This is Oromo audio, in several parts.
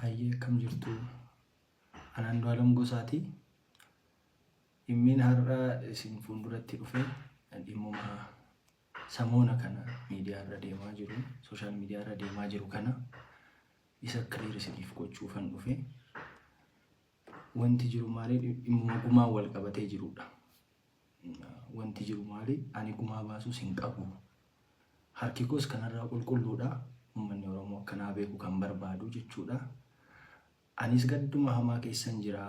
Hayyee akkam jirtu an Andu'aalam Gosaati. Dhimmiin har'a isin fuulduratti dhufe dhimmuma samoona kana miidiyaa irra deemaa jiru, sooshaal miidiyaa irra deemaa jiru kana isa kiliir isiniif gochuufan dhufe. Wanti jiru maali? Dhimmuma gumaan wal qabatee jirudha. Wanti jiru maali? Ani gumaa baasuus hin qabu. Harki koos kanarraa qulqulluudha. Uummanni Oromoo akkanaa beeku kan barbaadu jechuudha. Anis gadduma hamaa keessan jira.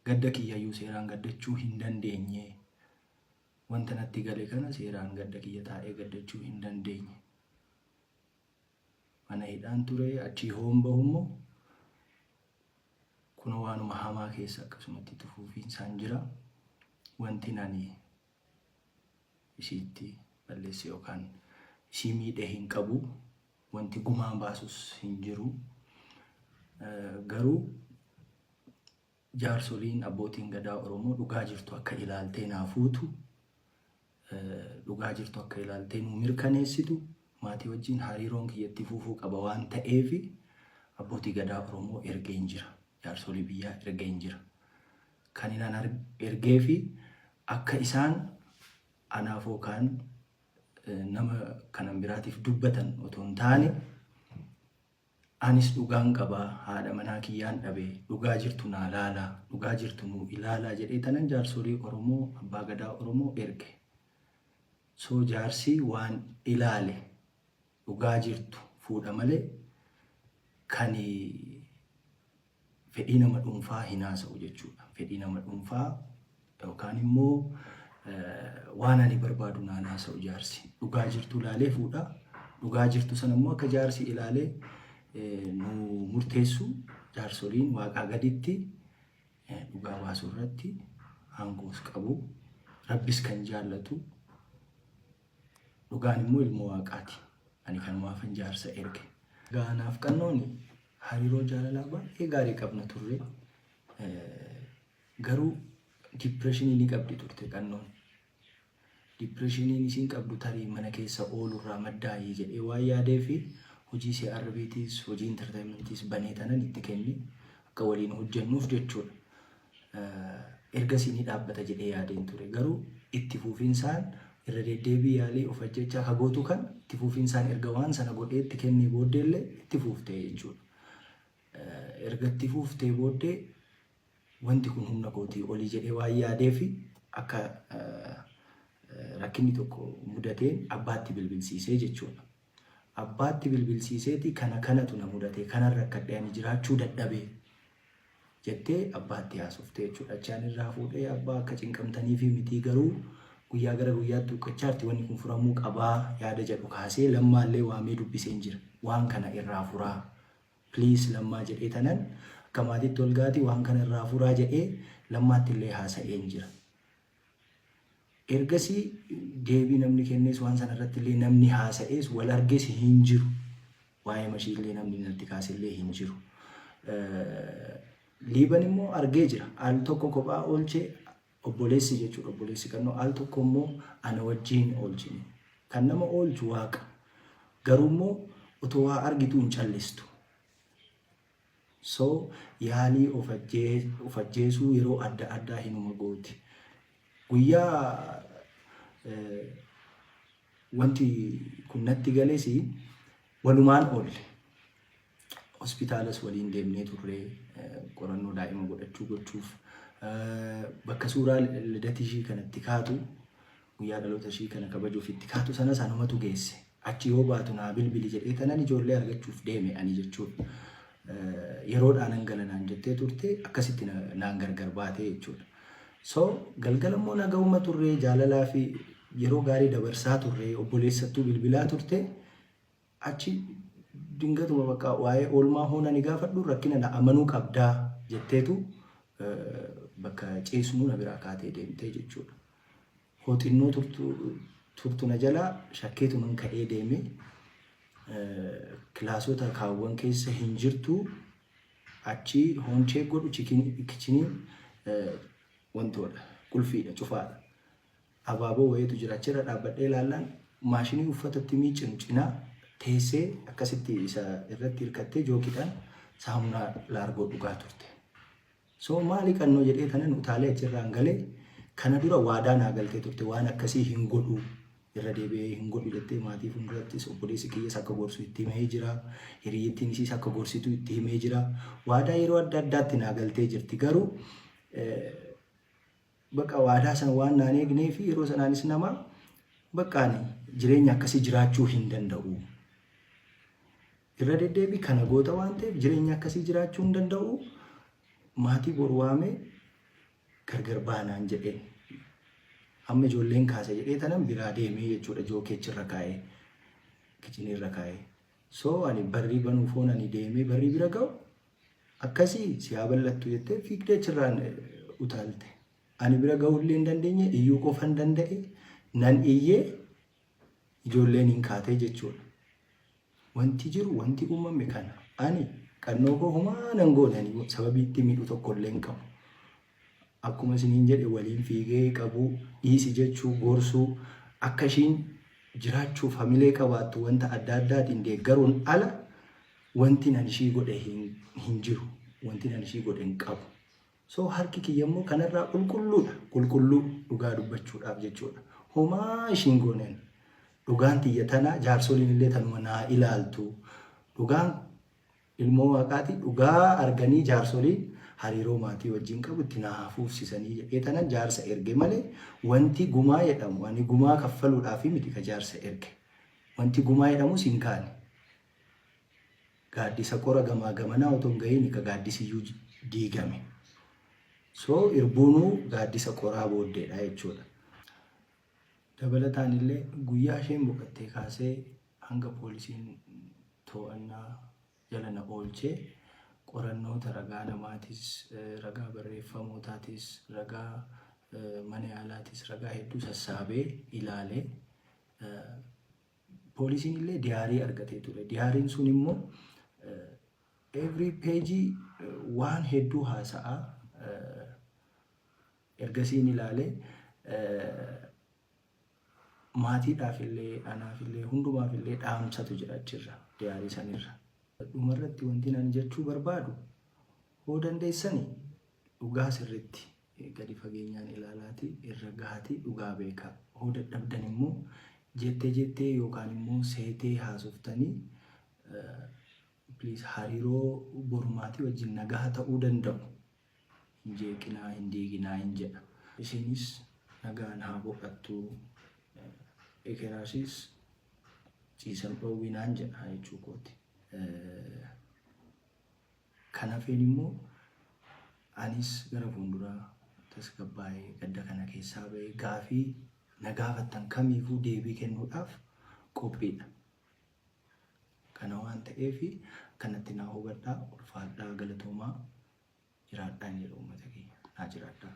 Gadda kiyyayyuu seeraan gaddachuu hin dandeenye. Wanta natti gale kana seeraan gadda kiyya taa'ee gaddachuu hin dandeenye. Mana hidhaan ture achii hoon bahu immoo kun waanuma hamaa keessa akkasumatti itti fufiinsaan jira. Wanti ani isiitti balleesse yookaan isii miidhe hin qabu. Wanti gumaan baasus hin jiru. Garuu Jaarsoliin, Abbootiin Gadaa Oromoo dhugaa jirtu akka ilaaltee naa fuutu, dhugaa jirtu akka ilaaltee nuu mirkaneessitu, maatii wajjin hariiroon kiyya itti fufuu qaba waan ta'eef Abbootii Gadaa Oromoo ergeen jira. Jaarsolii biyyaa ergeen jira. Kan inaan ergee fi akka isaan anaaf yookaan nama kanan biraatiif dubbatan otoo hin taane Anis dhugaan qaba haadha manaa kiyyaan dhabe dhugaa jirtu naa laalaa dhugaa jirtu nuu ilaalaa jedhee tanan jaarsolii oromoo abbaa gadaa oromoo erge so jaarsii waan ilaale dhugaa jirtu fuudha malee kani fedhii nama dhuunfaa hin haasa'u jechuudha. Fedhii nama dhuunfaa yookaan immoo waan ani barbaadu naan haasa'u jaarsi. Dhugaa jirtu ilaalee fuudha. Dhugaa jirtu sana immoo akka jaarsi ilaalee nu murteessu jaarsoliin waaqaa gaditti dhugaa baasuu irratti aangoos qabu. Rabbis kan jaallatu dhugaan immoo ilmoo waaqaati. Ani kan waafan jaarsa erge. Gaanaaf qannooni Hariiroo jaalalaa baay'ee gaarii qabna turre. Garuu diippireeshinii ni qabdi turte qannoon. Diippireeshiniin isiin qabdu tarii mana keessa oolurraa maddaa'ee jedhee waan yaadee fi hojii CRBtis hojii intartaayimantiis banee tanan itti kenne akka waliin hojjennuuf jechuudha. ergasii ni dhaabbata jedhee yaadeen ture. Garuu itti fuufinsaan irra deddeebii yaalii of ajjechaa ka gootu kan itti fuufinsaan erga waan sana godhee itti kennee booddee illee itti fuuftee jechuudha. Erga itti fuuftee booddee wanti kun humna kootii olii jedhee waan yaadee fi akka rakkinni tokko mudateen abbaatti bilbilsiisee jechuudha. Abbaatti bilbilsiiseeti kana kanatu na mudate kanan rakkadhe ani jiraachuu dadhabe jettee abbaatti haasofte jechuudha. Achi ani irraa fuudhee abbaa akka cinqamtaniifi mitii garuu guyyaa gara guyyaatti huqqachaarti wanni kun furamuu qabaa yaada jedhu kaasee lammaallee waamee dubbiseen jira. Waan kana irraa furaa please lammaa jedhee tanan akka maatiitti walgaati waan kana irraa furaa jedhee lammaattillee haasa'een jira. Ergasii deebii namni kennees waan sana irratti illee namni haasa'ees wal arges hin jiru. Waa'ee mashii illee namni natti kaase illee hin jiru. Liiban immoo argee jira. Al tokko kophaa oolchee obboleessi jechuudha obboleessi kannoo al tokko immoo ana wajjin oolchine. Kan nama oolchu waaqa. Garuu immoo otoo waa argitu hin callistu. So, yaalii of of ajjeesuu yeroo adda addaa hinuma gooti. Guyyaa wanti kun natti gales walumaan oolle. Hospitaalas waliin deemnee turre qorannoo daa'ima godhachuu gochuuf. Bakka suuraa lidatishii kanatti kaatu Guyyaa dhaloota ishii kana kabajuuf itti kaatu sanas anumatu geesse. Achi yoo baatu naa bilbili jedhee kanan ijoollee argachuuf deeme ani jechuudha. Yeroodhaa nan gala naan jettee turte akkasitti na- naan gargar baatee jechuudha. So galgala immoo nagahuma turree jaalalaa fi yeroo gaarii dabarsaa turree obboleessattuu bilbilaa turte Achi dingatuma bakka waa'ee oolmaa hoo nani gaafadhu rakkina na amanuu qabdaa jetteetu bakka ciisnuu na biraa kaatee deemtee jechuudha. Hoo xinnoo turtu turtu na jalaa shakkeetuman ka'ee deeme kilaasota kaawwan keessa hin jirtu achi hoon cheek godhu kichiniin wantoodha qulfiidha cufaadha. Abaaboo wayiitu jira. Achi irra dhaabbadhee ilaallaan maashinii uffata itti miiccinu cinaa teessee akkasitti isa irratti hirkattee jookiidhaan saamunaa laargoo dhugaa turte. So maali qannoo jedhee tanan utaalee achirraan galee kana dura waadaa naa galtee turte waan akkasii hin godhu irra deebi'ee hin godhu jettee maatii fuuldurattis obboleessi kiyyas akka gorsu itti himee jira. Hiriyyittiin isiis akka gorsitu itti himee jira. Waadaa yeroo adda addaatti naa galtee jirti garuu Baqa waadaa sana waan naan eegnee fi yeroo sanaanis nama baqa ani jireenya akkasii jiraachuu hin danda'u. Irra deddeebii kana goota waan ta'eef jireenya akkasii jiraachuu hin danda'u. Maatii bor waamee gargar baanaan jedhee. Amma ijoolleen kaasa jedhee tanan biraa deemee jechuudha jookeechi irra kaa'ee. Kichinii irra kaa'ee. So ani barrii banuuf hoon ani deemee barrii bira ga'u Akkasii si haa bal'attu jettee fiigdee achirraan utaalte. Ani bira ga'uullee hin dandeenye, iyyuu qofan danda'e, nan iyye, ijoolleen hin kaatee jechuudha. Wanti jiru, wanti uumame kana. Ani qannoo koo humaa nan goone, ani sababii itti miidhu tokkollee hin qabu. Akkuma isiniin jedhe waliin fiigee qabuu, dhiisi jechuu, gorsuu, akka ishiin jiraachuuf hamilee qabaattu wanta adda addaatiin deeggaruun ala wantin an ishii godhe hin jiru. Wantin an ishii godhe hin qabu. So harki kiyya immoo kanarraa qulqulluudha. Qulqulluu dhugaa dubbachuudhaaf jechuudha. Homaa ishiin gooneen. Dhugaan tiyya tana jaarsoliin illee tanuma naa ilaaltu. Dhugaan Ilmoo Waaqaati dhugaa arganii jaarsoliin hariiroo maatii wajjin qabu itti naa haa fuufsisanii jedhee tanan jaarsa erge male wanti gumaa jedhamu ani gumaa kaffaluudhaafi miti ka jaarsa erge wanti gumaa jedhamus hin kaane gaaddisa qora gamaa gamanaa otoo hin gahiini ka gaaddisiyyuu diigame so irbuunuu gaaddisa qoraa booddeedha jechuudha. Dabalataanillee guyyaa isheen boqattee kaasee hanga poolisiin to'annaa jala na oolchee qorannoota ragaa namaatis, ragaa barreeffamootaatis, ragaa mana yaalaatis ragaa hedduu sassaabee ilaale. Poolisiin illee diyaarii argatee ture. Diyaariin sun immoo every page waan hedduu haasa'a. Ergasiin ilaale maatiidhaaf illee anaaf illee hundumaaf illee dhaamsatu jira achirra diyaarii sanirra. Dhumarratti wanti ani jechuu barbaadu hoo dandeessani dhugaa sirriitti gadi fageenyaan ilaalaati irra gahaati dhugaa beekaa. Hoo dadhabdan immoo jettee jettee yookaan immoo seetee haasoftanii please hariiroo borumaatii wajjin nagaha ta'uu danda'u. hin jeeqinaa, hin diiginaa hin jedha. Isiinis nagaan haa boqattu, ekeraasis ciisa hin dhoowwinaan jedha jechuu kooti. Kan hafeen immoo anis gara fuulduraa tasgabbaa'ee gadda kana keessaa ba'ee gaafii na gaafattan kamiifuu deebii kennuudhaaf qophiidha. Kana waan ta'eef akkanatti naa hubadhaa ulfaadhaa galatoomaa jiraadhaa hin jedha uummata keenya naa jiraadhaa.